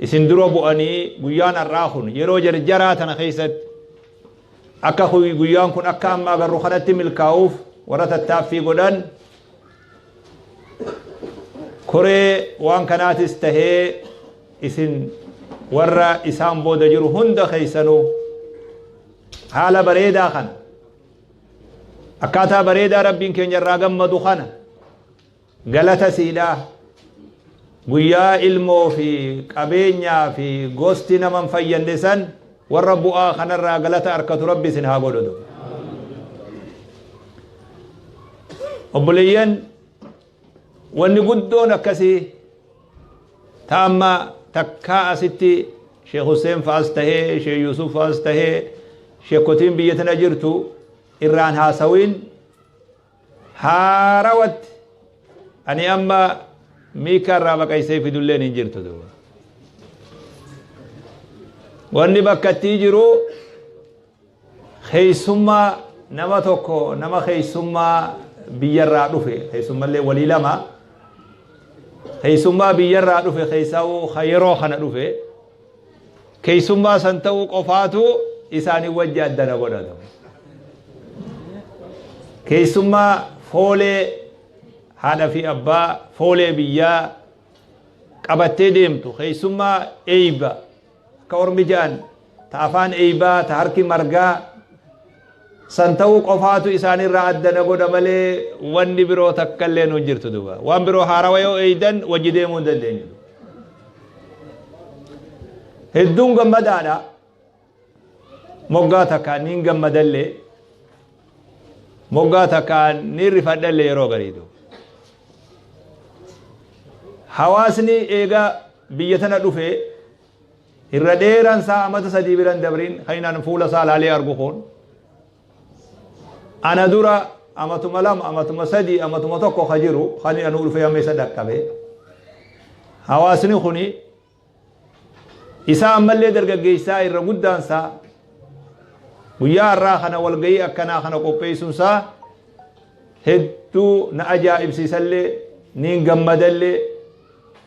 isin dura bu'anii guyyaan har'aa kun yeroo jarjaraa tana keessatti akka guyyaan kun akka amma agarru kanatti milkaa'uuf warra tattaaffii godhan koree waan kanaatis tahee isin warra isaan booda jiru hunda keessanuu haala bareedaa kana akkaataa bareedaa rabbiin keenya irraa gammadu kana Galata siidha. Guyyaa ilmoo fi qabeenyaa fi gosti nama hin fayyadne san warra bu'aa kanarraa galata arkatu rabbi isin haa godhu. Obboleeyyan wanni guddoon akkasii ta amma takkaa asitti Sheekh Hussein fa'as tahee Sheekh Yusuf fa'as tahee sheekotiin biyya tana jirtu irraan haasawiin haarawatti ani amma miikaa irraa baqaysee fidulleen hin jirtu duuba wanni bakka ittii jiru keeysummaa nama tokko nama keeysummaa biyyarraa dhufe keeysummallee walii lama keeysummaa biyyarraa dhufe keeysaa'uu ka yeroo kana dhufe Keessummaa san ta'uu qofaatu isaanii wajji adda na godhatu. Keessummaa foolee haadha fi abbaa foolee biyyaa qabattee deemtu keessummaa eeyba akka ormi ja'an ta afaan eeybaa ta harki margaa san ta'uu qofaatu isaanirraa adda na godha malee wanni biroo takka illee nu jirtu duba waan biroo haarawa yoo eeydan wajji deemuu hin dandeenyu hedduun gammadaadha moggaa takkaan niin gammadallee moggaa takkaan niin rifadhallee yeroo gariidu hawaasni eega biyya tana dhufee Irra dheeraan isaa amata sadii biran dabriin kan inni an fuula isaa laalee argu kun ana dura amatuma lama amatuma sadii amatuma tokko ka jiru kan inni anuu dhufee amma isa dhaqqabe hawaasni kun isaa ammallee dargaggeessaa irra guddaan isaa guyyaa har'aa kana walga'ii akkanaa kana qopheessuun isaa hedduu na ajaa'ibsiisallee niin gammadallee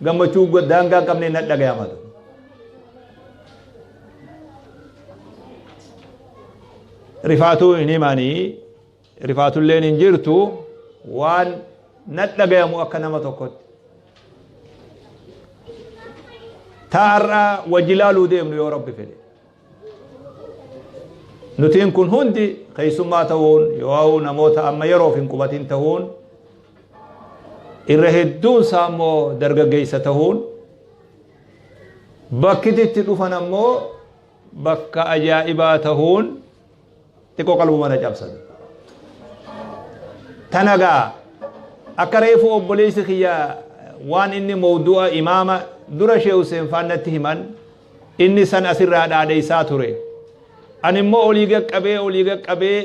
gammachuu go- daangaa hin qabne nan dhagayama ture. Rifaatuu hin himanii rifaatulleen hin jirtu waan nan dhagayamu akka nama tokkotti. Taarraa wajji laaluu deemnu yoo rabbi fedhe. Nutiin kun hundi keessummaa ta'uun yoo namoota amma yeroof hin qubatin ta'uun irra hedduun isaa immoo dargaggeessa ta'uun bakki itti dhufan ammoo bakka ajaa'ibaa ta'uun xiqqoo qalbuma na cabsan. Tana gaa akka reefu obboleessi kiyya waan inni mawdu'a imaama dura Sheekh Hussein faan natti himan inni san asirraa dhaadheessaa ture. Ani immoo olii qaqqabee olii qaqqabee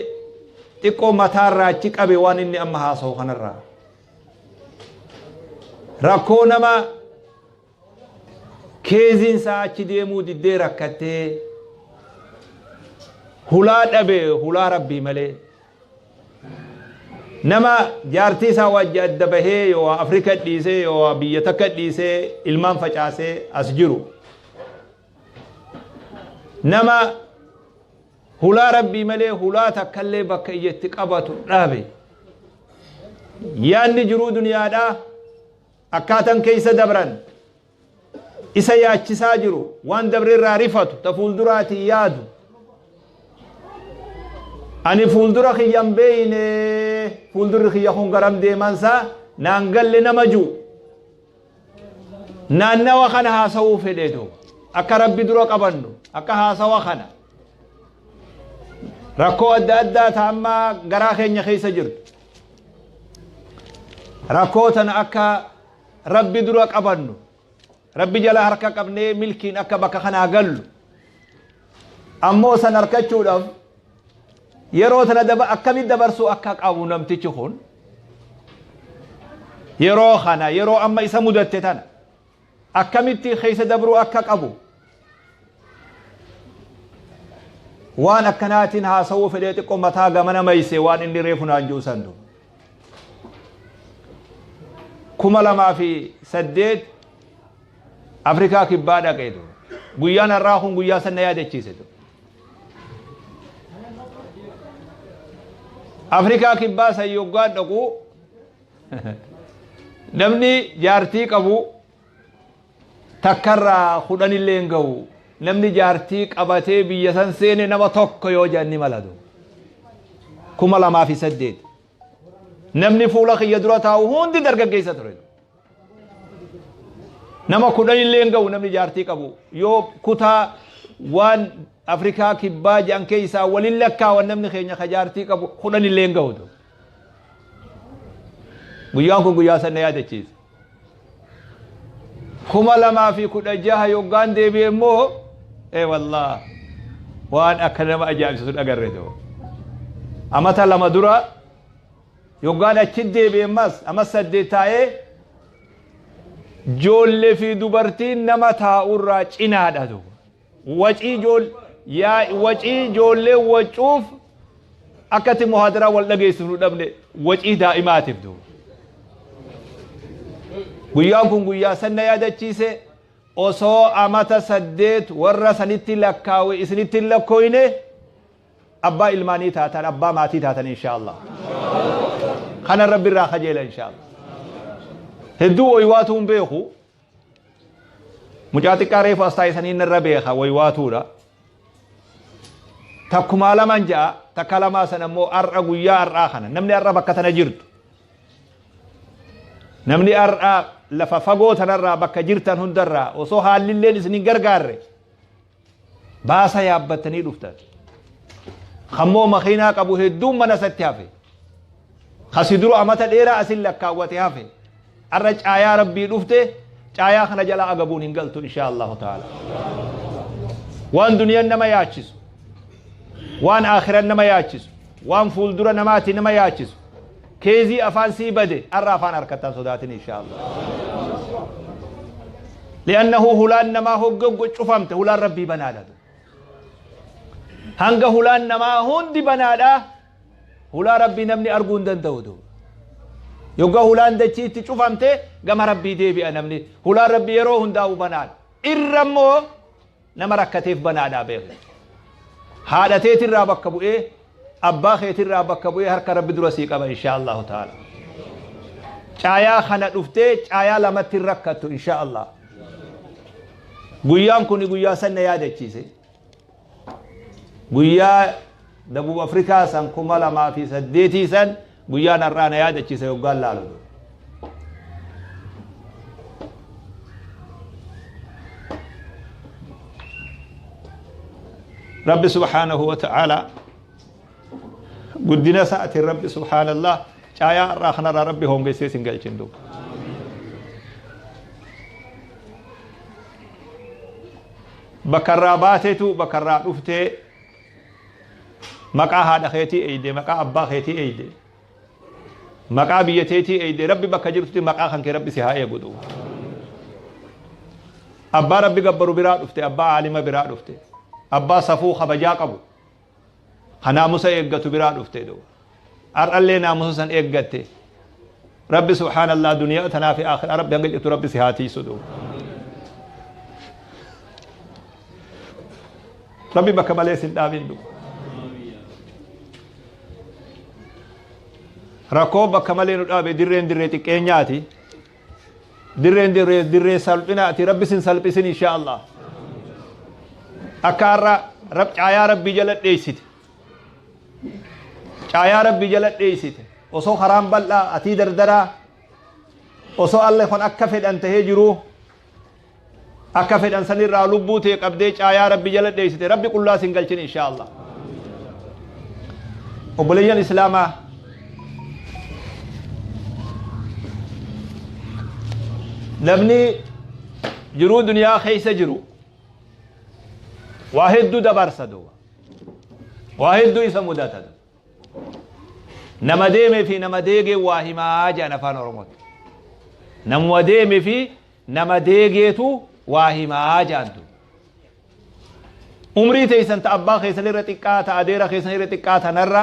xiqqoo mataarraa achi qabe waan inni amma haasa'u kanarraa. Rakkoo nama Keeziin isaa achi deemuu diddee rakkattee hulaa dhabe hulaa rabbii malee nama jaartii isaa wajji adda bahee yoo Afrika dhiisee yoo biyya takka dhiisee ilmaan facaasee as jiru nama hulaa rabbii malee hulaa takkallee bakka ija itti qabatu dhabe yaanni jiruu duniyaadhaa Akkaatan keessa dabran isa yaachisaa jiru, waan dabre irraa rifatu, ta fuulduraatiin yaadu. Ani fuuldura kiyya hin beeyne, fuuldurri kiyya kun garam deemansaa naan galle nama jiru. Naannawa kana haasawuu fedhe duuba. Akka rabbi dura qabannu, akka haasawa kana. Rakkoo adda addaa ta amma garaa keenya keessa jirtu. rakkoo tana akka rabbi dura qabannu rabbi jala harka qabnee milkiin akka bakka kanaa gallu ammoo san harkachuudhaaf yeroo tana daba akkamitti dabarsuu akka qabu namtichi kun yeroo kana yeroo amma isa mudatte tana akkamitti keessa dabruu akka qabu waan akkanaatiin haasawuu fedhee xiqqoo mataa gamana mayse waan inni reefu naan jiru sandu kuma lamaa fi saddeet afrikaa kibbaa dhaqee ture guyyaan har'aa kun guyyaa sanna yaadachiise ture afrikaa kibbaa san yoggaan dhaquu Namni jaartii qabu takkarraa kudhan illee hin ga'u. Namni jaartii qabatee biyya san seene nama tokko yoo jedhan ni malatu. Kuma lamaa fi saddeet. Namni fuula kiyya dura taa'u hundi dargaggeessa ture. Nama kudhan illee hin ga'u namni jaartii qabu. Yoo kutaa waan Afrikaa kibbaa jedhan keessaa waliin lakkaawan namni keenya ka jaartii qabu kudhan illee hin ga'u. guyyaan kun guyyaa san na yaadachiise kuma lamaa fi kudha jaha yoggaan deebi'e immoo ee wallah waan akka nama ajaa'ibsiisu dhagarre ta'u amata lama dura yoggaan achi deebi'e ammas ammas saddeet taa'ee joollee fi dubartiin nama taa'urraa cinaadha ta'u Wacii jool yaa wacii joollee wacuuf akkatti muhaadaraa wal dhageessu nu dhabne wacii daa'imaatiif duuba. Guyyaan kun guyyaa sanna yaadachiise osoo amata saddeet warra sanitti lakkaawe isinitti hin lakkooyne abbaa ilmaanii taatan abbaa maatii taatan inshaallah. Kana rabbi irraa kajeela inshaallah. Hedduu oywaatuun beeku Mucaa xiqqaa reefu as taa'e saniin irra beeka waywaatuudha. Takkumaa laman ja'a takka lamaa sana immoo har'a guyyaa har'aa kana namni har'a bakka tana jirtu. Namni har'aa lafa fagoo tanarraa bakka jirtan hundarraa osoo haallilleen isin hin gargaarre Baasa yaabbattanii dhuftan. Kammoo makiinaa qabu hedduun mana isatti hafe. Kasi dura amata dheeraa asin lakkaawwate hafe. Arra caayaa rabbii dhufte caayaa kana jala agabuun hin galtu inshaa Allahu ta'ala. Waan duniyaan nama yaachisu. Waan akhiran nama yaachisu. Waan fuuldura namaati nama yaachisu. Keezii afaan sii bade arra afaan harkatta hin sodaatin inshaa'Allah. Li'annahu hulaan namaa hogga hogga cufamte hulaan rabbii banaadha. Hanga hulaan namaa hundi banaadha hulaa rabbii namni arguu hin danda'u duuba. Yogga hulaan dachii itti cufamte gama rabbii deebi'a namni hulaan rabbii yeroo hundaa'u banaadha. Irra immoo Nama rakkateef banaadhaa beeki. Haadha teetirraa bakka bu'ee, abbaa keetirraa bakka bu'ee harka Rabbi dura sii qaba inshaa Allahu ta'ala. Caayaa kana dhuftee caayaa lamatti hin rakkattu inshaa Allah. Guyyaan kun guyyaa san na yaadachiise. Guyyaa Dabub Afrikaa san kuma lamaa fi saddeetii san Guyyaan har'aa na yaadachiise yoggaan laalu. Rabbi subhaanahu wa ta'aalaa guddina isaatiin Rabbi subhaanallah caayaa har'aa kanarraa Rabbi hoongessee sin galchin duuba. Bakka irraa baateetu bakka irraa dhuftee maqaa haadha keetii eeyde maqaa abbaa keetii eeyde maqaa biyya teetii eeyde rabbi bakka jirtutti maqaa kan kee rabbi si haa eegu duuba abbaa rabbi gabbaru biraa dhufte abbaa aalima biraa dhufte abbaa safuu kabajaa qabu kanaamusa eeggatu biraa dhufte duuba Har'allee naamusa san eeggatte. Rabbi subhaanallah duniyaa tanaa fi aakhiraa rabbi hanga jirtu rabbi si haa tiisudhu. Rabbi bakka malee sin dhaabin du. Rakkoo bakka malee nu dhaabe dirreen dirree xiqqeenyaati. Dirreen dirree dirree salphinaati rabbi sin salphisin inshaa Allah. Akka har'a rab caayaa rabbii jala dheessite. caayaa rabbi jala dheeysite osoo karaan bal'aa atii dardaraa osoo alle kun akka fedhan tahee jiruu akka fedhan sanirraa lubbuu tee qabdee caayaa rabbi jala dheeysite rabbi qullaa sin galchin inshaa allah obboleeyyan islaamaa namni jiruu duniyaa keeysa jiru waa hedduu dabarsa duuba waa hedduu isa mudata nama deemee fi nama deegee waa himaa jedhan afaan oromootti namuma deemee fi nama deegeetu waa himaa jedhan tun umrii teessan ta abbaa keessan irra xiqqaa ta adeera keessan irra xiqqaa tanarra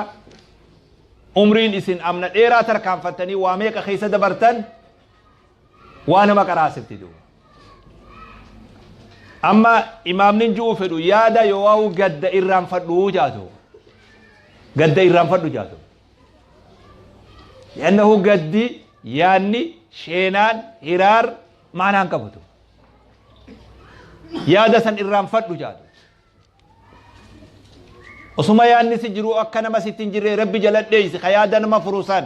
umriin isin amna dheeraa tarkaanfattanii waa meeqa keessa dabartan waa nama qaraasifti duuba amma imaamnin ju'uu fedhu yaada yoowaa'u gadda irraanfadhu jaatu gadda irraanfadhu jaatu yannahu gaddi yaanni sheenaan hiraar maanaan qabutu yaada san irraanfadhu jaatu osuma yaanni si jiru akka nama sitti hin jirre rabbi jaladheeysi ka yaada nama furusan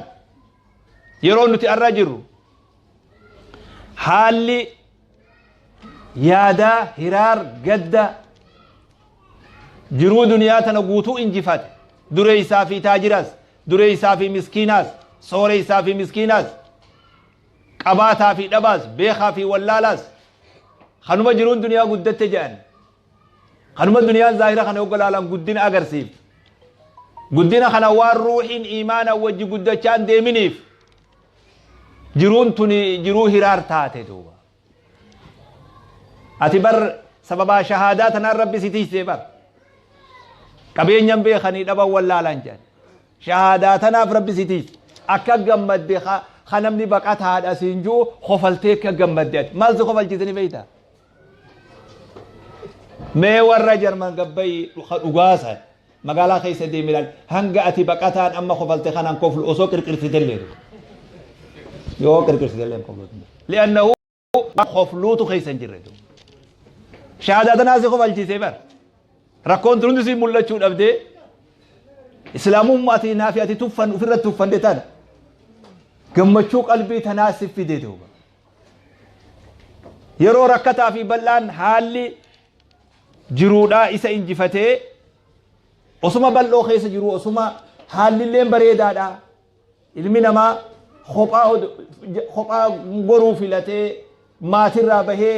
Yeroo nuti arra jirru haalli yaadaa hiraar gadda jiruu duniyaa tana guutuu injifate dureessaa fi taajiras dureessaa fi miskiinaas sooreessaa fi miskiinaas qabaataa fi dhabaas beekaa fi wallaalaas kanuma jiruun duniyaa guddatte jedhan Kanuma duniyaan zaahira kana hogga laalan guddina agarsiiftu. Guddina kana waan ruuhiin iimaana wajji guddachaa hin deeminiif jiruun tuni jiruu hiraar taate duuba. Ati bar sababaa shahaadaa tanaan rabbi si tiysee bar. Qabeenyan beekanii dhaban wallaalan jedhan. Shahaadaa tanaaf rabbi si tiyse. Akka gammadde ka ka namni baqataadha siin jiru kofaltee akka gammadde ati. Maal si kofalchiise ni beektaa? mee warra jarman gabbayii ka dhugaasa magaalaa keessa deemi ilaali hanga ati baqataan amma kofalte kanaan koflu osoo qirqirsitellee yoo qirqirsitellee koflu li'annahu kofluutu keessa hin jirre shahaadaa tanaa si kofalchiisee bar rakkoon turuun si mul'achuu dhabdee islaamummaa ati naafi ati tuffan ofirratti tuffande tana gammachuu qalbii tanaa si fidee duuba Yeroo rakkataa fi bal'aan haalli jiruudhaa isa injifatee osuma bal'oo keessa jiru osuma haallilleen bareedaadha. Ilmi namaa kophaa goruu filatee maatirraa bahee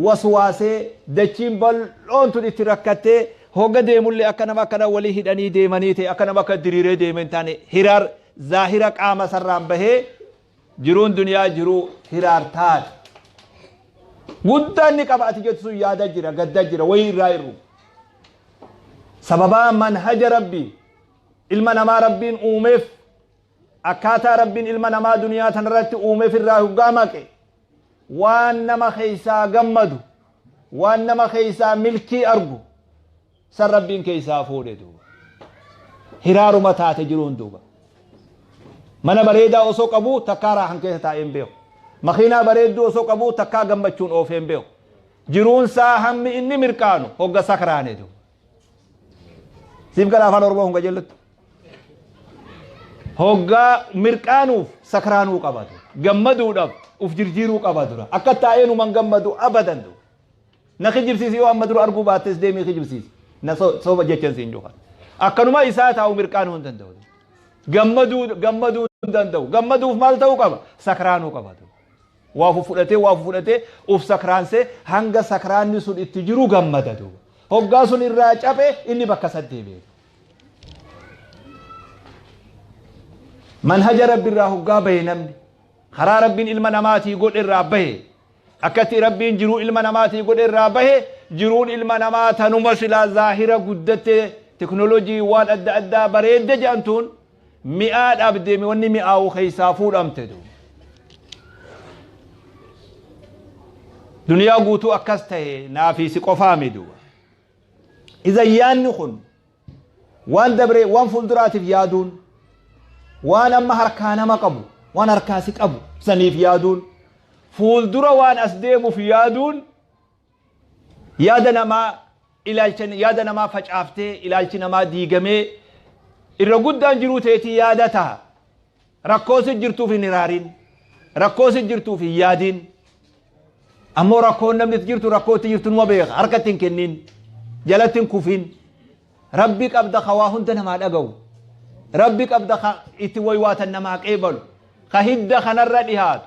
waswaasee dachiin bal'oon tun itti rakkattee hogga deemullee akka nama akkana walii hidhanii deemanii ta'e akka nama akka diriiree deeme hin taane hiraar zaahira qaama sarraan bahee Jiruun duniyaa jiruu hiraartaadha. Guddaa inni qaba ati jettu sun yaada jira, gadda jira, wayii irraa irru. Sababaa manhaja rabbii ilma namaa rabbiin uumeef akkaataa rabbiin ilma namaa duniyaa tanarratti uumeef irraa hoggaa maqe waan nama keessaa gammadu waan nama keessaa milkii argu San Rabbiin keessaa fuudhe duuba. Hiraaruma taate jiruun duuba. Mana bareedaa osoo qabu takkaa raahan keessa taa'ee hin beeku. Makiinaa bareedduu osoo qabu takkaa gammachuun oofee hin beeku. Jiruun isaa hammi inni mirqaanu hogga sakraane duuba. Siif gala afaan Oromoo kun qajeellutti. Hoggaa mirqaanuuf sakraanuu qaba duuba. Gammaduudhaaf uf jirjiiruu qaba dura. Akka taa'ee numan gammadu abadan duuba. Na kijibsiisi yoo amma dura arguu baattes deemii kijibsiisi. Na so- soba jechan siin juqa. Akkanuma isaa taa'u mirqaanuu hin danda'u. Gammaduu gammaduu hin danda'u. Gammaduuf maal ta'uu qaba? Sakraanuu qaba. Waa fudhatee waa fudhatee uf sakraansee hanga sakraanni sun itti jiru gammada duuba. Hoggaa sun irraa caphe inni bakka isaa deebi'e. Manhaja rabbi irraa hoggaa bahe namni karaa rabbiin ilma namaatii godhe irraa bahe Akkatti Rabbiin jiruu ilma namaatii godhe irraa bahe jiruun ilma namaa tanuma silaa zaahira guddatte teknolojii waan adda addaa bareedde jedhantuun mi'aa dhabde wanni mi'aawu keessaa fuudhamte duuba. Duniyaa guutuu akkas ta'e naafii si qofaa miduuba. Iza yaanni kun Waan dabree waan fuulduraatiif yaaduun waan amma harkaa nama qabu waan harkaa si qabu saniif yaaduun fuuldura waan as deemuuf yaaduun yaada namaa ilaalcha yaada namaa facaaftee ilaalchi namaa diigamee irra guddaan jiruu teetii yaada taha. Rakkoo si jirtuuf hin hiraariin. Rakkoo si jirtuuf hin yaadiin. Ammoo rakkoon namni itti jirtu rakkoo itti jirtu numa beeka. Harka itti hin kenniin. Jalatti hin kufiin. Rabbi qabda ka waa hunda namaa dhagahu. Rabbi qabda ka itti waywaatan namaa qeebalu. Ka hidda kanarra dhihaatu.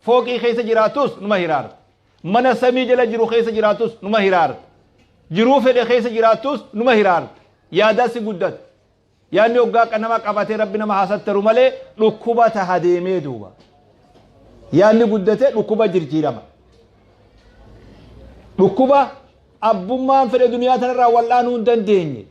Fooqii keessa jiraatus numa hiraarta. Mana samii jala jiru keessa jiraatus numa hiraarta. Jiruu fedhe keessa jiraatus numa hiraarta. Yaadaa si guddata. Yaanni hoggaa akka nama qabatee rabbi nama haa sattaru malee dhukkuba taha deemee duuba. Yaanni guddate dhukkuba jirjiirama. Dhukkuba abbummaan fedhe duniyaa tanarraa wal'aanuu hin dandeenye.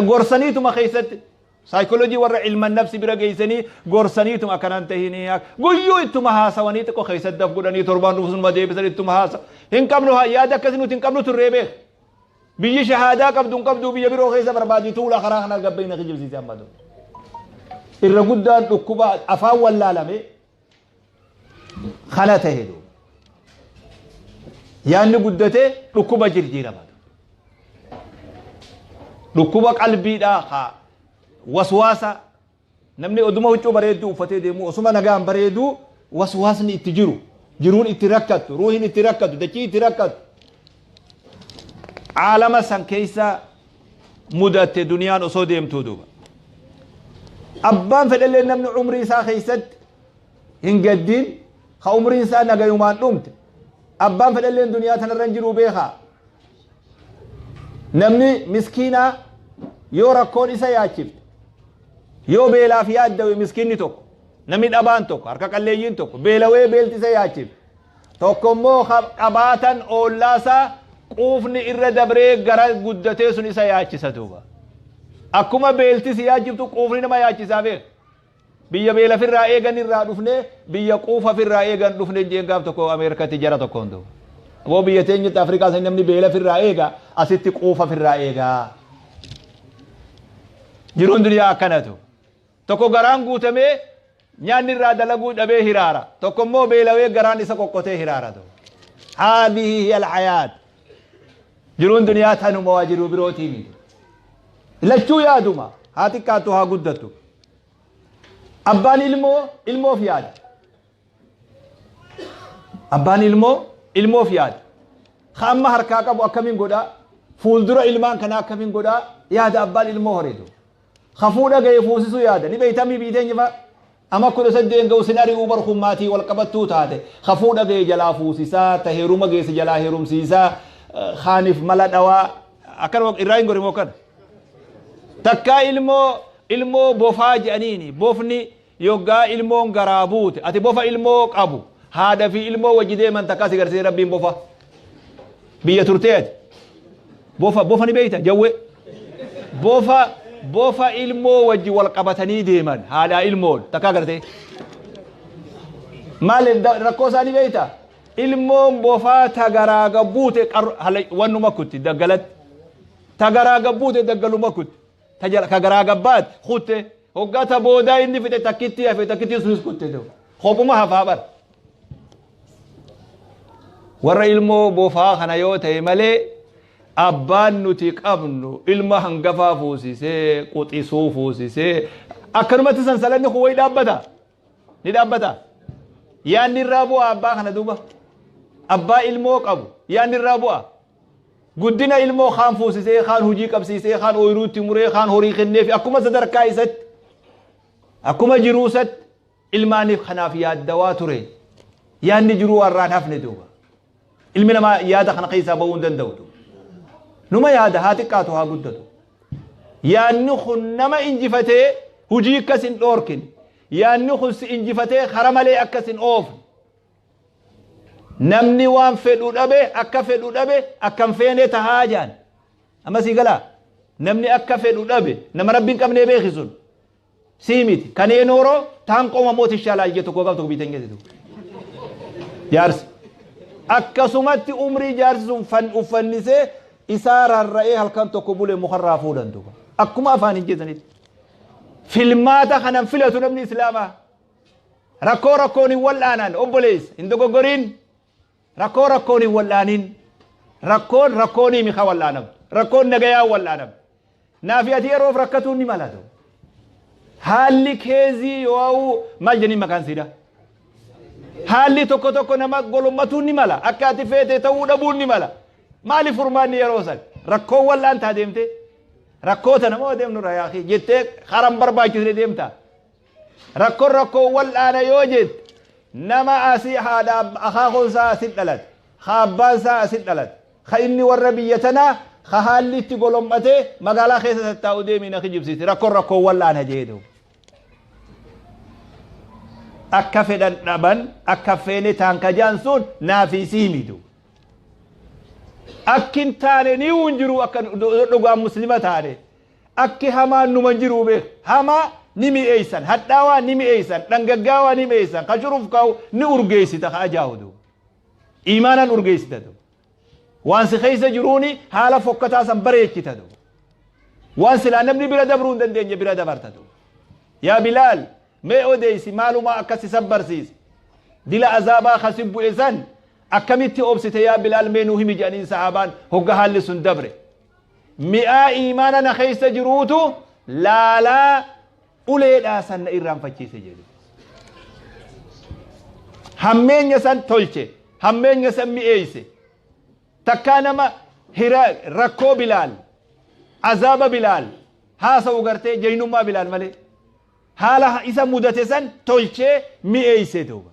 Gorsaniituma keessatti Psychology warra ilma nafsi bira geessanii gorsaniituma akkana hin tahinii ak- guyyuu ittuma haasawanii xiqqoo keessatti daf godhanii torbaan dhufu sunuma deebisan ittuma haasa hin qabnu haa yaada akkasii nuti hin qabnu turree beek biyyi shahaadaa qabdu hin qabdu biyya biroo keessa barbaadii tuula karaa kana gabbeeyna kijibsiise amma dura irra guddaan dhukkuba afaan wallaalame kana ta'e duuba yaanni guddatee dhukkuba jirjiirama dhukkuba qalbiidhaa haa waswaasa namni oduma huccuu bareedduu uffatee deemu osuma nagaan bareeduu waswaasni itti jiru jiruun itti rakkattu ruuhin itti rakkattu dachii itti rakkattu caalama san keessa mudatte duniyaan osoo deemtuu duuba abbaan fedhellee namni umrii isaa keessatti hin gaddiin ka umriin isaa nagayumaan dhumte abbaan fedhellee duniyaa tanarra hin jiruu beekaa namni miskiinaa yoo rakkoon isa yaachifte yoo beelaaf yaaddawe miskiinni tokko namni dhabaan tokko harka qalleeyyiin tokko beelawee beelti isa yaachifte Tokko immoo qabaatan oollaa isaa quufni irra dabree gara guddatee sun isa yaachisa duuba. Akkuma beelti si yaachiftu quufni nama yaachisaa beeka. Biyya beela firraa eegan irraa dhufne biyya quufa firraa eegan dhufne jeen gaaf tokko Ameerikatti jara tokkoon duuba. Aboo biyya teenyatti Afrikaa sanii namni beela firraa eega asitti quufa firraa eegaa. Jiruun duniyaa akkanatu. Tokko garaan guutamee nyaanni irraa dalaguu dhabee hiraara. Tokko immoo beelawee garaan isa qoqqotee hiraara. Haadhihi hiya alhayaat. Jiruun duniyaa tanuma waa jiruu birootii miti. Lachuu yaaduma haa xiqqaattu haa guddattu. Abbaan ilmoo ilmoof yaada. Abbaan ilmoo ilmoof yaada. Ka amma harkaa qabu akkamiin godhaa? Fuuldura ilmaan kanaa akkamiin godhaa? Yaada abbaan ilmoo horeetu. Kafuu dhagaye fuusisu yaada ni beeyta mii biiteenya fa ama kudha saddeen ga'u sin ari'uu bar kun maatii wal qabattuu taate kafuu dhagaye jalaa fuusisaa ta heeruma geesse jalaa heerumsiisaa kaanif mala dhawaa akkanuma irraa hin gorimoo kana takkaa ilmoo ilmoo bofaa jedhaniini bofni Yoggaa ilmoon garaa buute ati bofa ilmoo qabu haadha fi ilmoo wajji deeman takkaa si garsiise rabbiin bofa biyya turtee ati bofa bofa ni beeyta jawwe bofa bofa ilmoo wajji wal qabatanii deeman haadhaa ilmoon takkaa gartee maal rakkoo isaa ni beeyta ilmoon bofaa ta garaa gabbuute wannuma kutti daggalatti ta garaa gabbuute daggaluma kutti ta jala ka garaa gabbaat kutte hoggaa ta boodaa inni fixe takkittii hafe takkittii sunis kutte ta'u kopuma hafaa bar warra ilmoo bofaa kana yoo ta'e malee abbaan nuti qabnu ilma hangafaa fuusisee quxisuu fuusisee akkanumatti sansalanni kun wayi dhaabbata ni dhaabbata yaanni irraa bu'a abbaa kana duuba abbaa ilmoo qabu yaanni irraa bu'a Guddina ilmoo kaan fuusisee, kaan hojii qabsiisee, kaan ooyiruu itti muree, kaan horii kenneefi akkuma sadarkaa isatti, akkuma jiruu isatti ilmaaniif kanaaf yaaddawaa ture. Yaadni jiruu har'aan hafne duuba. Ilmi namaa yaada kana keessaa ba'uu hin danda'u duuba. Numa yaada haa xiqqaatu haa guddatu. Yaadni kun nama injifatee hojii akkas hin dhoorkin. Yaadni kun si injifatee kara malee akkas hin oofne. namni waan fedhu dhabe akka fedhu dhabe akka hin feene tahaa jaan amma sii galaa namni akka fedhu dhabe nama rabbi hin qabnee beeki sun sii miti kanee nooroo taan qooma mooti shaalaal jettu koo qabtu biitan geessitu jaarsi akkasumatti umrii jaarsi sun fan uffannisee isaa rarra'ee halkan tokko bulee mukarraa fuudhan duuba akkuma afaan hin jedhanitti filmaata kanan filatu namni islaamaa Rakkoo rakkoon hin wal'aanan obboleessa hin dogoggoriin rakkoo rakkoon hin wal'aanin rakkoon rakkoonii mika wal'aanam rakkoon nagayaa wal'aanam naafi ati yeroof rakkatuun ni malatu haalli keezii yoo'uu maal jedhin maqaan siidha haalli tokko tokko nama golommatuun ni mala akka ati feete ta'uu dhabuun ni mala maaliif furmaanni yeroo san rakkoon wal'aantaa deemtee rakkoo tana moo deemnu rayaakii jettee karan barbaachisne deemta Rakkon rakkoo wal'aana yoo jette nama asi haadha akaakoon isaa asi dhalate ka abbaan isaa asi dhalate ka inni warra biyya tanaa ka haalli itti golom'atee magaalaa keessa tattaa'u deemii na kijibsiise rakkon rakkoo wal'aana jeedu. Akka fedhan dhaban akka feene taan kajaan sun naafi sii midu. Akkin taane ni hin jiru akka dhugaan muslima taane. Akki hamaan numa jiruu beeka. Hamaa ni mi'eessan, hadhaawaa ni mi'eessan, dhangaggaawaa ni mi'eessan, ka shurufkaa'u ni urgeessita ka ajaahu duuba. Iimaanan urgeessita duuba. Waan si keessa jiruuni haala fokkataa san bareechita duuba. Waan silaa namni bira dabruu hin dandeenye bira dabarta duuba. Yaa Bilaal mee odeessi maalumaa akka si sabbarsiise. Dila azaabaa ka si bu'e san akkamitti obsite yaa Bilaal mee nuu himi jedhaniin sahaabaan hogga haalli sun dabre. Mi'aa iimaana na keessa jiruutu laalaa uleedhaa san na irraanfachiise jedhe. Hammeenya san tolche, hammeenya san mi'eeyse. Takkaa nama hira rakkoo bilaal, azaaba bilaal, haasa'u gartee jaynummaa bilaal malee. Haala isa mudate san tolchee mi'eeyse duuba.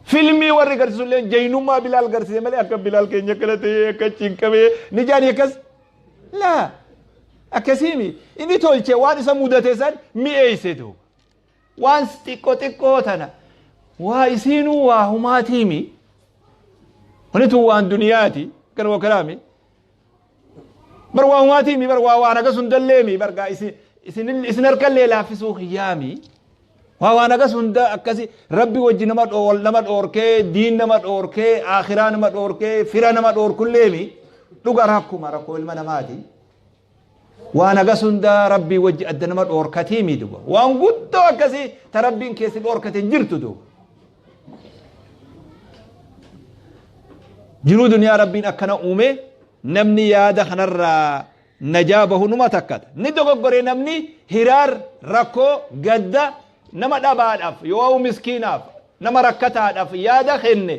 Filmii warri garsiisu illee jaynummaa bilaal garsiise malee akka bilaal keenya akkana ta'ee akka cinqamee ni jaani akkas laa akkasii mi inni tolche waan isa mudate san mi'eeyse duuba waan xiqqoo xiqqoo tana waa isiinuu waa humaatii mi wani tun waan duniyaati kan wakaraami bar waan waatiimi bar waa waan agas hundalleemi bar gaa isin isin isin harkallee laaffisuu kiyyaami waa waan agas hunda akkasi rabbi wajji nama dhool nama dhoorkee diin nama dhoorkee akhiraa nama dhoorkee fira nama dhoorkulleemi dhuga rakkuma rakkoo ilma namaati Waan agas hundaa rabbii wajji adda nama dhoorkatii mii duba. Waan guddoo akkasii ta rabbiin keessi dhoorkate hin jirtu duba. Jiruu duniyaa rabbiin akkana uume namni yaada kanarraa najaa bahu numa takkata. Ni dogoggoree namni hiraar rakkoo gadda nama dhabaadhaaf yoo miskiinaaf nama rakkataadhaaf yaada kenne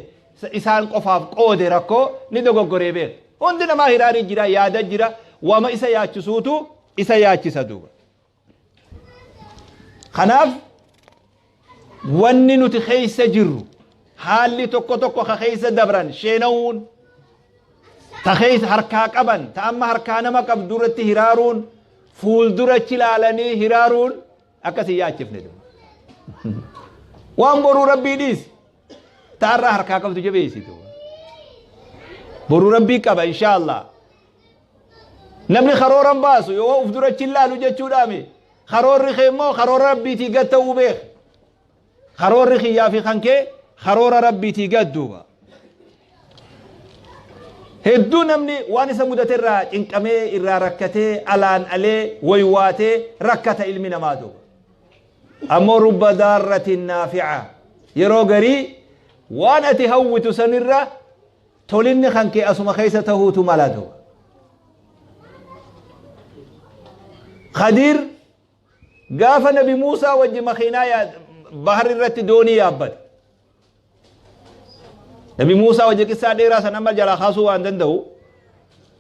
isaan qofaaf qoode rakkoo ni dogoggoree beeka. Hundi namaa hiraarii jira, yaada jira, wama isa yaachisuutu isa yaachisa duuba. Kanaaf wanni nuti keessa jirru haalli tokko tokko ka keessa dabran sheenawuun ta keessa harkaa qaban ta amma harkaa nama qabdu irratti hiraaruun fuuldurachi ilaalanii hiraaruun akkasii yaachifne duuba. Waan boruu rabbii dhiisi. Taarraa harkaa qabdu jabeessitu. Boruu rabbii qaba insha Allah. Namni karooran baasu yoo of dura achi ilaalu jechuudhaami. Karoorri kee immoo karoora rabbiitii gad ta'uu beek. Karoorri kiyyaa fi kan kee karoora rabbiitii gad duuba. Hedduu namni waan isa mudate irraa cinqamee irraa rakkatee alaan alee waywaatee rakkata ilmi namaa duuba. Ammoo rubba daarratin naafica. Yeroo garii waan ati hawwitu sanirra tolinni kan kee asuma keessa tahuutu mala duuba. Khadiir gaafa nabi Muusaa wajji makiinaa bahar irratti doonii yaabbate. Nabi Muusaa wajji qissaa dheeraa san amma jalaa kaasuu waan danda'u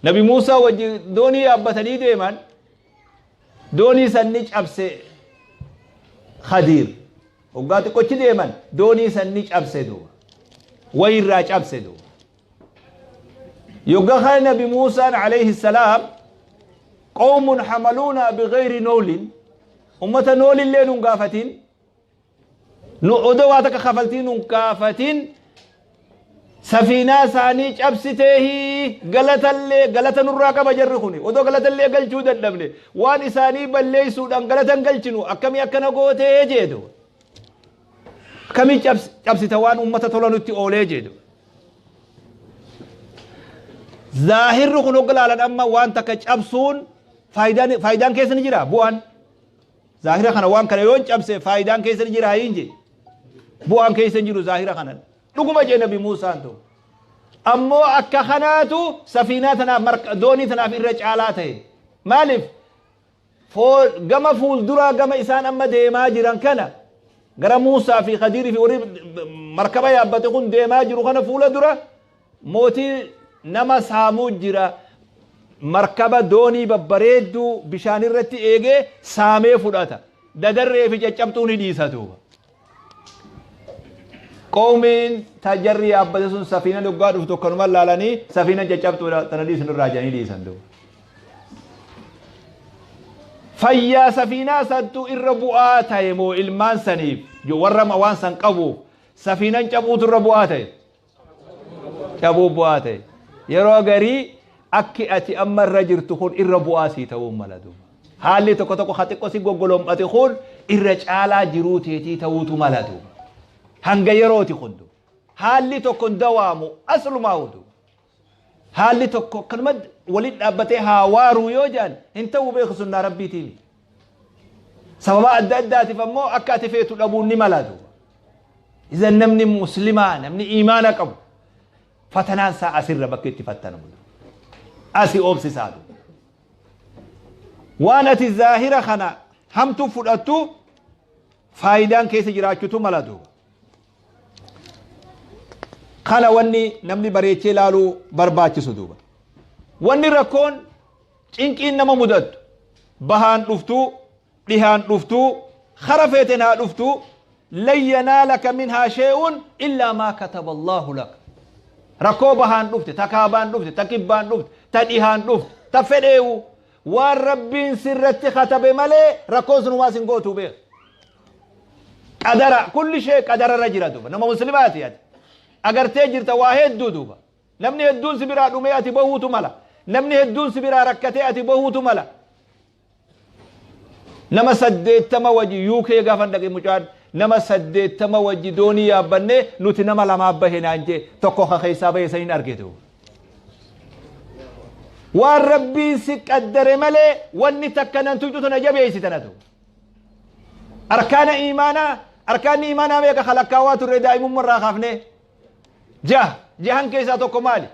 Nabi Muusaa wajji doonii yaabbatanii deeman doonii san ni cabse Khadiir hoggaa xiqqochi deeman doonii san ni cabse duuba wayirraa cabse duuba yogga kana Nabi Muusaan alayhi salaam qawmun hamaluuna bigayri noolin ummata noolillee nun gaafatin nu odoo waa takka kafaltii nun kaafatin safiinaa isaanii cabsiteehi galatallee galata nurraa qaba jarri kuni odoo galatallee galchuu dadhabne waan isaanii balleessuudhaan galatan galchinu akkamii akkana gootee jeedu akkamii cabs- cabsita waan uummata tola nutti oolee jeedu zaahirri kun hogga laalan amma waan takka cabsuun faayidaan faayidaan keessa ni jira bu'aan Zaahira kana waan kana yoon cabse faayidaan keessa ni jira hin jee. Bu'aan keessa hin jiru zaahira kana. Dhuguma jee nabi Muusaan ta'u. Ammoo akka kanaatu safiinaa tanaaf marka doonii tanaaf irra caalaa ta'e. Maaliif? Fool gama fuulduraa gama isaan amma deemaa jiran kana gara Muusaa fi Khadiirii fi warri markaba yaabbate kun deemaa jiru kana fuula dura Mootii nama saamuu jira. Markaba, doonii babbareedduu bishaan irratti eegee saamee fudhata. Dadarree fi caccabxuu ni dhiisa duuba. Qoomiin tajarri yaabbate sun safiina dhuggaa dhufu tokkanuma laalanii safiina caccabxuudha tana dhiisin irraa jedhanii dhiisan duuba. Fayyaa safiinaa santu irra bu'aa ta'e moo ilmaan saniif warra waan san qabuuf safiinan cabuutu irra bu'aa ta'e. dhabuu bu'aa ta'e yeroo garii akki ati amma irra jirtu kun irra bu'aa sii ta'uu mala duuba haalli tokko tokko ha xiqqoo si goggolom'ate kun irra caalaa jiruu teetii ta'uutu mala duuba hanga yerooti kun duuba haalli tokko hin dawaamu aslumaa hudu haalli tokko akkanuma waliin dhaabbatee haa waaruu yoo jaan hin ta'uu beeku sunnaa rabbiitiin sababa adda addaatiif ammoo akka ati feetu dhabuun ni mala duuba izan namni muslimaa namni iimaana qabu fatanaan isaa asirra bakka itti fattanamu asi oobsisaa duuba waan ati zaahira kana hamtu fudhattu faayidaan keessa jiraachutu mala duuba kana wanni namni bareechee ilaaluu barbaachisu duuba wanni rakkoon Cinqiin nama mudattu bahaan dhuftuu dhihaan dhuftuu kara feeten haa dhuftuu lan yanaalaka minhaa shee'uun illaa maa kataba allaahu laka rakkoo bahaan dhufte ta kaabaan dhufte ta kibbaan dhufte ta dhihaan dhufte ta fedheewu waan rabbiin sirratti katabe malee rakkoon sun waas hin gootuu beeka qadara kulli shee qadararra jira duuba nama muslimaati ati agartee jirta waa hedduu duuba Namni hedduun si biraa dhumee ati bohuutu mala. Namni hedduun si biraa rakkatee ati bohuutu mala. Nama saddeettama wajji UK gaafan dhaqe mucaan nama saddeettama wajji doonii yaabbannee nuti nama lamaa bahe naan jee tokko ka keessaa bahe san hin argitu. Waan rabbiin si qaddare malee wanni takka nan tuyxu tana jabeessi tanatu. Arkaana imaanaa arkaanni imaanaa meeqa kalakkaawaa turre daa'imummaa irraa kaafnee. Jaha. Jahan keessaa tokko maali?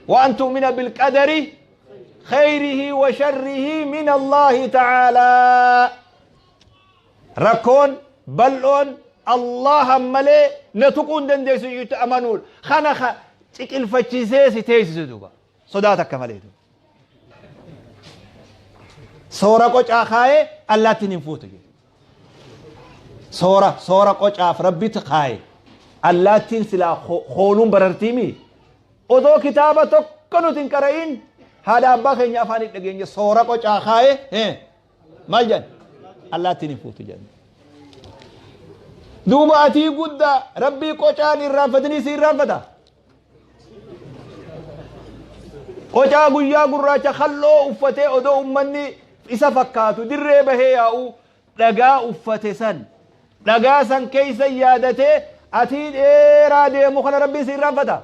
Waan tu'mina bilqadari khayrihi wa sharrihi min Allahi ta'aalaa. Rakkoon bal'oon Allahan malee na tuquu hin dandeessu jechuutti amanuudha. Kana ka ciqilfachiisee si teessisu duuba. Sodaa takka malee. Soora qocaa kaayee allaattiin hin fuutu. Soora soora qocaaf rabbitti kaayee allaattiin silaa hooluun barartii mii? Odoo kitaaba tokko nuti hin qara'iin haadha abbaa keenya afaan hin dhageenye soora qocaa kaayee maal jedhan allaattiin hin fuutu jedhan duuba atii guddaa rabbii qocaan irraanfatanii si irraanfata qocaa guyyaa gurraacha kalloo uffatee odoo ummanni isa fakkaatu dirree bahee yaa'u dhagaa uffate san Dhagaa san keessa yaadatee atii dheeraa deemu kana rabbiin si irraanfata.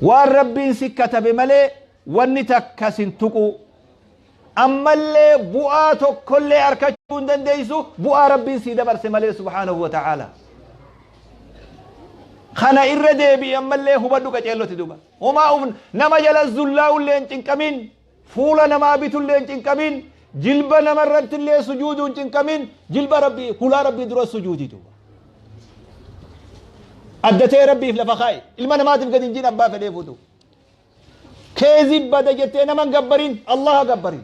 Waan rabbiin si katabe malee wanni takka sin tuquu. Ammallee bu'aa tokkollee arkachuu hin dandeessu bu'aa rabbiin si dabarse malee subhaanahu wa ta'aala. Kana irra deebi'i ammallee hubadhu qaceelloti duuba. Homaa uf nama jala zullaa'ullee hin cinqamiin. Fuula namaa bitullee hin cinqamin, jilba nama irrattillee sujuuduu hin cinqamin, jilba Rabbii, hulaa Rabbii duras sujuudi duuba. Adda ta'e Rabbiif lafa kaa'i. Ilma namaatiif gadi hin jiin abbaa fedhee fuutu. Keezii bada jettee nama hin gabbarin, Allaha gabbari.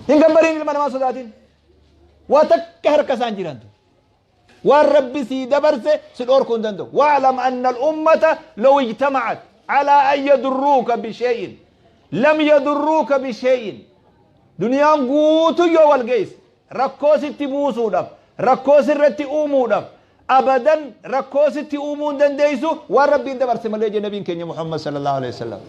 Hin gabbarin ilma namaa sodaatin. Waa takka harka isaan jirantu. waan rabbi sii dabarse si dhoorkuu hin danda'u wa'lam anna al-ummata law ijtama'at ala an yadurruuka bishay'in lam yadurruuka bishay'in duniyaan guutuu yoo wal geesse rakkoo sitti buusuudhaaf rakkoo sirratti uumuudhaaf abadan rakkoo sitti uumuu hin dandeessu waan rabbiin dabarse malee jedhe nabiin keenya muhammad sallallahu alaihi wasallam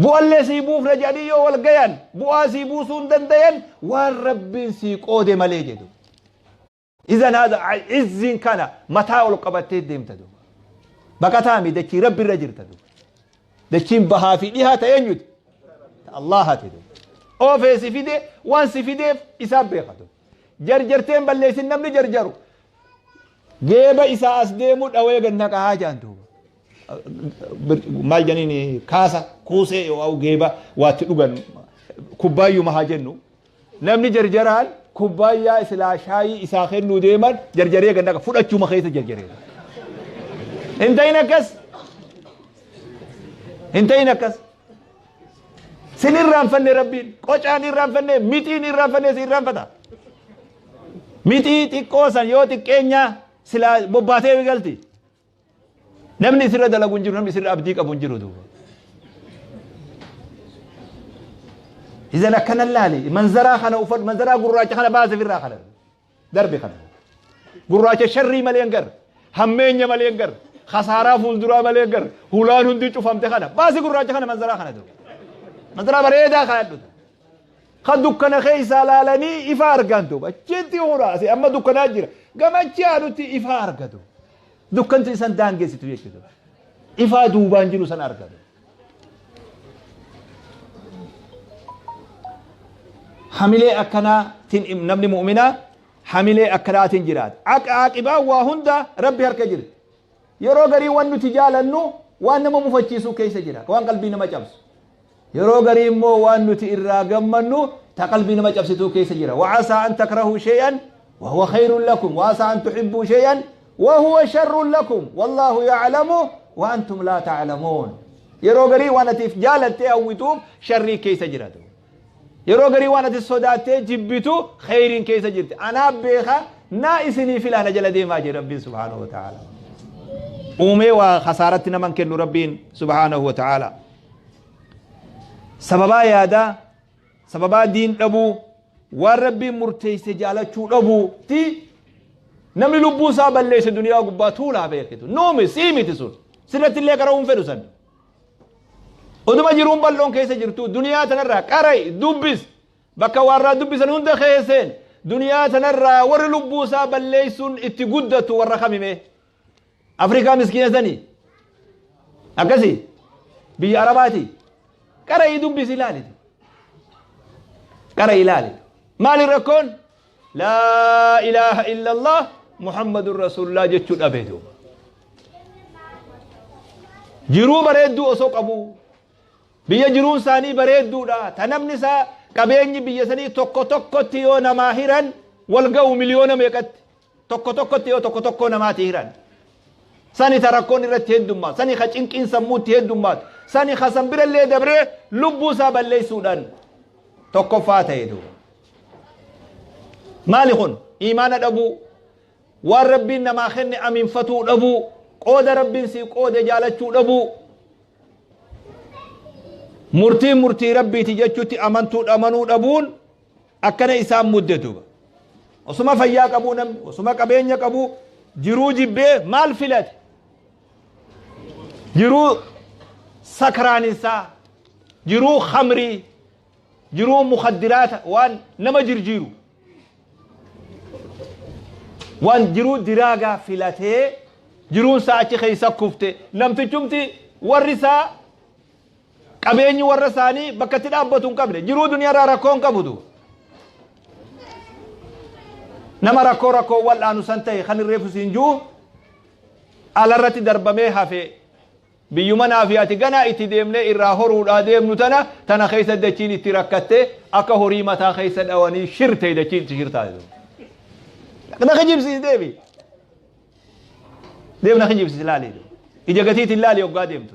bu'allee sii buufna jedhanii yoo wal gayan bu'aa sii buusuu hin dandayan waan rabbiin sii qoode malee jedhu Izan haadha izziin kana mataa ol qabattee deemta duuba. Baqataa mi dachii rabbi irra jirta duuba. Dachiin bahaa fi dhihaa ta'e eenyuti? Ta Allaahati duuba. Oofee si fide waan si fideef isaa beeka duuba. Jarjarteen balleessin namni jarjaru. Geeba isaa as deemu dhawee gad naqaa jaan duuba. Maal janiin kaasa kuusee yoo geeba waatti dhugan kubbaayyuma haa jennu. Namni jarjaraan kubbaayyaa silaa shaayii isaa kennuu deeman jarjaree gad naqa fudhachuma keessa jarjaree. Hin ta'in akkas. Hin ta'in akkas. Sin irraanfanne rabbiin qocaan irraanfanne mixiin irraanfanne si irraanfata. Mixii xiqqoo san yoo xiqqeenyaa silaa bobbaatee galti. Namni isirra dalagu hin jiru, namni isirra abdii qabu hin jiru duuba. Izan akkana laali, manzaraa kana uffadhu, manzaraa gurraacha kana baase firraa kana. Darbe kana. Gurraacha sharrii malee hin gar, hammeenya malee hin gar, khasaaraa fuulduraa malee hin gar, hulaan hundi cufamte kana. Baasi gurraacha kana manzaraa kana duuba. Manzaraa bareedaa kana dhuta. Kan dukkana keessaa laalanii ifa argaan duuba. Achitti huraase amma dukkanaa jira. Gamachi aanutti ifa argatu. Dukkanti isan daangessitu jechuudha. Ifaa duubaan jiru san argatu. Hamilee akkanaatiin namni mu'minaa hamilee akkanaatiin jiraata. Aqibaan waa hundaa rabbi harka jirti. Yeroo garii waan nuti jaalannu waan nama mufachiisuu keessa jira. Waan qalbii nama cabsu. Yeroo garii immoo waan nuti irraa gammannu ta qalbii nama cabsituu keessa jira. Wa'asaa an takrahuu shay'an wa huwa khayrun lakum wa'asaa an tuhibbuu shay'an wa huwa sharrun lakum wallaahu ya'lamu wa antum laa ta'lamuun. Yeroo garii waan atiif jaalattee hawwituuf sharrii keessa jiratu. Yeroo garii waan ati sodaattee jibbitu khayriin keessa jirti. Anaa beeka naa isinii filaana jala deemaa jira Rabbiin subhaanahu wa ta'ala. Uumee waa khasaaratti naman kennu Rabbiin subhaanahu wa ta'ala. sababaa yaadaa sababaa diin dhabuu waan rabbiin murteesse jaalachuu dhabuu ti namni lubbuu isaa balleesse duniyaa gubbaa tuulaa beekitu nuumi sii miti sun sirratti illee qara'uu hin fedhu san oduma jiruun bal'oon keessa jirtu duniyaa tanarraa qara'i dubbis bakka warraa dubbisan hunda keesseen duniyaa tanarraa warri lubbuu isaa balleessuun itti guddatu warra kamimee Afrikaa miskiina sanii akkasi biyya arabaati qara'ii dubbisi ilaalitu qara'ii ilaalitu maali rakkoon laa ilaaha illallah muhammadun rasuulullah jechuu dhabee duuba jiruu bareedduu osoo qabuu biyya jiruun isaanii bareedduudha ta namni isaa qabeenyi biyya sanii tokko tokkotti yoo namaa hiran wal ga'u miliyoona meeqatti tokko tokkotti yoo tokko tokkoo namaati hiran sani ta rakkoon irratti heddummaatu sani ka cinqiin sammuutti heddummaatu sani ka san birallee dabree lubbuu isaa balleessuudhaan tokkoffaa ta'e duuba maali kun iimaana dhabuu waan rabbiin namaa kenne aminfatuu dhabuu qooda rabbiin sii qoode jaalachuu dhabuu murtiin murtii rabbiiti jechuutti amantuu amanuu dhabuun akkana isaan mudde duuba osuma fayyaa qabuu namni osuma qabeenya qabuu jiruu jibbee maal filate jiruu sakraaninsaa jiruu khamrii jiruu mukaddiraata waan nama jirjiiru waan jiruu diraagaa filatee jiruun isaa achi keessa kufte namtichumti warri isaa Qabeenyi warra isaanii bakka itti dhaabbatu hin qabne jiruu duniyaarraa rakkoo hin qabutu. Nama rakkoo rakkoo wal'aanu san ta'e kan hin reefu siin jiru alarratti darbamee hafee biyyuma naa fi ati ganaa itti deemnee irraa horuudhaa deemnu tana tana keessa dachiin itti rakkattee akka horii mataa keessa dhawanii shirtee dachiin itti shirtaa jiru. Na kijibsiis deebi. Deem na kijibsiis laali. Ija gatiitiin laali oggaa deemtu.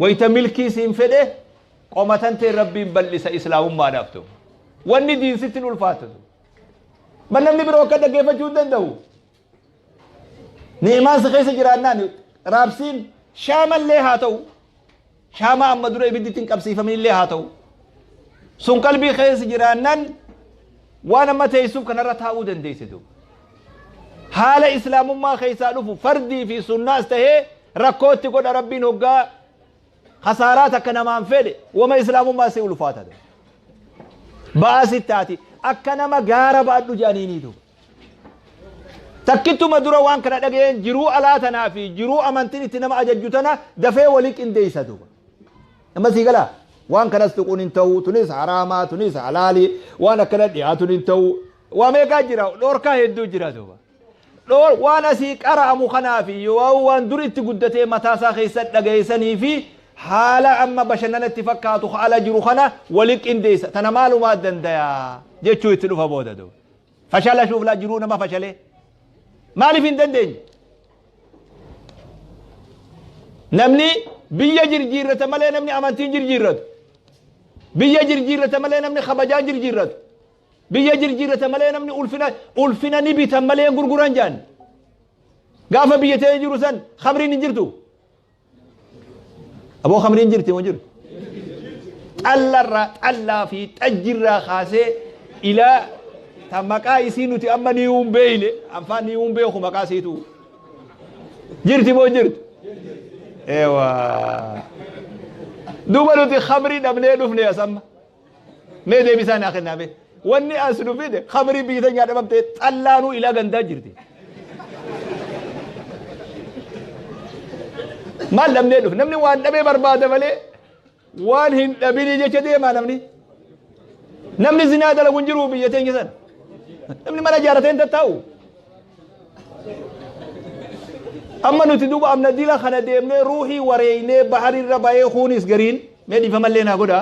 Wayta milkii siin fedhe qoma tantee Rabbiin bal'isa Islaamummaadhaaf ta'u. Wanni diin sitti hin ulfaatu. Bal namni biroo akka dhaggeeffachuu hin danda'u. Ni'imaan si keessa jiraannaan raabsiin shaamallee haa ta'u. Shaamaa amma dura ibiddi ittiin qabsiifaminillee haa ta'u. Sun qalbii keessa jiraannaan waan amma teessuuf kanarra taa'uu dandeessitu. Haala Islaamummaa keessaa dhufu fardii fi sunnaas ta'ee Rakkoo itti godha rabbiin hoggaa kasaaraa takka namaan fedhe wama islaamummaa si ulfaata ta'e. Ba'aa si taati akka nama gaara baadhu jedhaniinii duuba. Takkittuma dura waan kana dhaga'een jiruu alaa tanaa fi jiruu amantiin itti nama ajajju tana dafee walii qindeessa duuba. Amma sii galaa waan kanas tuquun hin ta'u tunis haraamaa tunis halaalii waan akkana dhiyaatuun hin ta'u waa meeqaa jira dhorkaa hedduu jira duuba. dhoor waan asii qara'amu kanaa fi yoo'aa'u waan dur itti guddatee mataa isaa keessa dhaga'e sanii fi haala amma bashannana itti fakkaatu ka ala jiru kana wali qindeessa tana maalumaa dandaya jechuu itti dhufa booda duuba fashala shuuflaa jiruu nama fashalee maaliif hin dandeenye namni biyya jirjiirrata malee namni amantiin jirjiirratu biyya jirjiirrata malee namni kabajaan jirjiirratu Biyya jirjiirratan malee namni ulfina ulfina ni bitan malee hin gurguran jedhan. Gaafa biyya ta'ee jiru san khamriin hin jirtu. Aboo khamriin jirti moo jiru? Xallarraa xallaa fi xajjirraa kaasee ilaa ta maqaa isii nuti amma ni hin beeyne afaan ni hin beeku maqaa siitu. Jirti moo jirtu? Eewaa. Duuba nuti khamrii dhabnee dhufne asamma. Mee deebisaa naa kennaa mee. Wanni as nu fide khamrii biyyi teenyaa dhabamtee xallaanuu ilaa gandaa jirti. Maal dhabnee dhufe? Namni waan dhabee barbaada malee waan hin dhabinii jecha deemaa namni. Namni zinaa dalagu hin jiru biyya teenya sana. Namni mana ijaarratee hin tattaa'u. Amma nuti duuba amna dila kana deemnee ruuhii wareeynee baharirra bahee kuunis gariin. Mee dhiifamallee naa godha.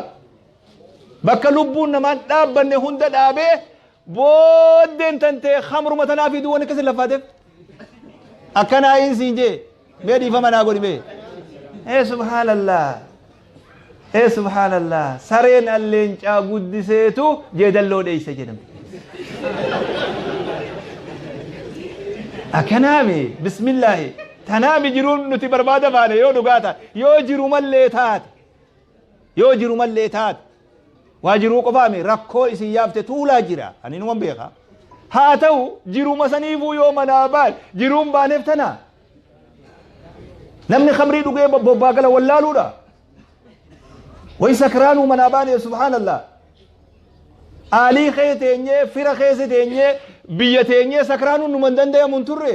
Bakka lubbuun namaan dhaabbanne hunda dhaabee booddeen tantee hamruma tanaa fi duwwan akkasii lafaateef. Akkanaa hin siin jee. Mee dhiifama naa godhi mee. Ee subhaanallah. Ee subhaanallah. Sareen alleencaa guddiseetu jeedalloo dheeysa jedhame. Akkanaa mee bismillaahi. Tanaami jiruun nuti barbaada baane yoo dhugaa taate, yoo jirumallee taate, yoo jirumallee taate, waa jiruu qofaa mi rakkoo isin yaafte tuulaa jira. Ani numan beeka. Haa ta'u jiruma saniifuu yoo manaa baane jiruun baaneef tanaa. Namni khamrii dhugee bo- bobbaa gala wallaaluudha. Way sakraanuu manaa baane subhaanallah. Aalii kee teenyee, fira keessa teenyee, biyya teenyee sakraanuun numan danda'amu hin turre.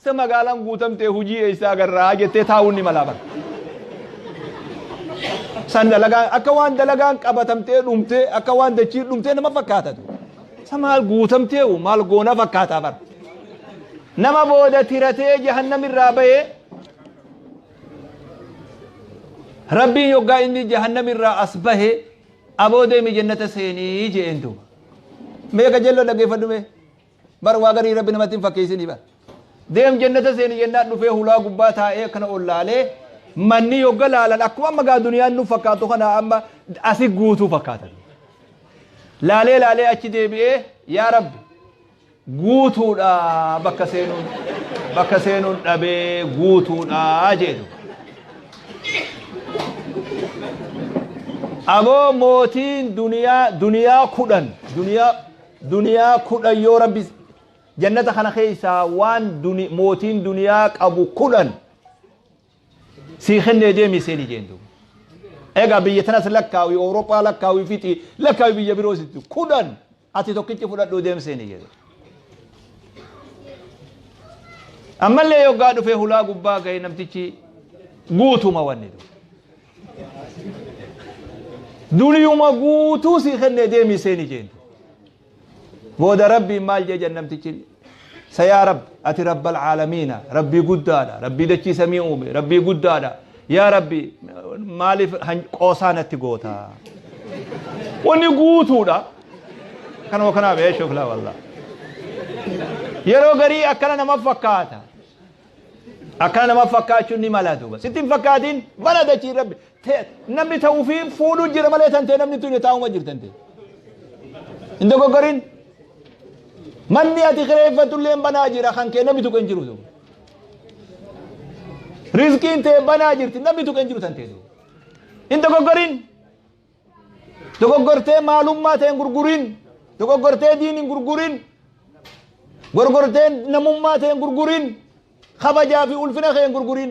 Isa magaalaan guutamte hujii eessa agarraa jettee taa'uun ni malaa bara. San dalagaan akka waan dalagaan qabatamtee dhumtee akka waan dachiin dhumtee nama fakkaatatu. Isa maal guutamtee maal goona fakkaataa bara. Nama booda tiratee jahannamirraa bahee Rabbiin yoggaa inni jahannamirraa as bahe aboo deemi jennata seenii jeen duuba. Meeqa jella dhaggeeffadhu mee? Bar waa garii rabbi namatti hin fakkeessini bar. Deem jannata seeni jennaan dhufee hulaa gubbaa taa'ee akkana ol laalee manni yogga laalan akkuma amma gaa duniyaan nu fakkaatu kana amma asi guutuu fakkaatan. Laalee laalee achi deebi'ee yaa rabbi guutuudha bakka seenuun bakka seenuun dhabee guutuudha jedhu. Aboo mootiin duniyaa duniyaa kudhan duniyaa Duniyaa kudhan yoo Rabbi Jannata kana keessaa waan duni, mootiin duniyaa qabu kudhan sii kennee deemi seeni jeen duuba. Egaa biyya tanas lakkaawi, Awurooppaa lakkaawi fixi, lakkaawi biyya biroo sitti kudhan ati tokkichi fudhadhuu deem seeni jedhe. Ammallee yoggaa dhufee hulaa gubbaa ga'e namtichi guutuma wanni duuba. Duniuma guutuu sii kennee deemii seeni jeen. Booda rabbiin maal jee jan namtichi sayaa rabb ati rabbal caalamiina rabbii guddaadha rabbii dachii samii uume rabbii guddaadha yaa rabbi maaliif qoosaa natti goota. Wanni guutuudha. Kanuma kanaaf eeshuuf laa wallah. Yeroo garii akkana nama fakkaata. Akkana nama fakkaachuun ni mala duuba. Sitti hin fakkaatiin bala dachii rabbi. Te- Namni ta'uu fi fuudhuu jira malee tan ta'e namni tuni taa'uma jirtan ta'e. Hin dogoggorin. Manni ati kireeffatullee hin banaa jira kan kee namni tuqe hin jiru duuba. Rizqiin ta'e banaa jirti namni tuqe hin jiru tan ta'e duuba. Hin dogoggorin. Dogoggortee maalummaa ta'een gurgurin. Dogoggortee diiniin gurgurin. Gorgortee namummaa ta'een gurgurin. Kabajaa fi ulfina keen gurgurin.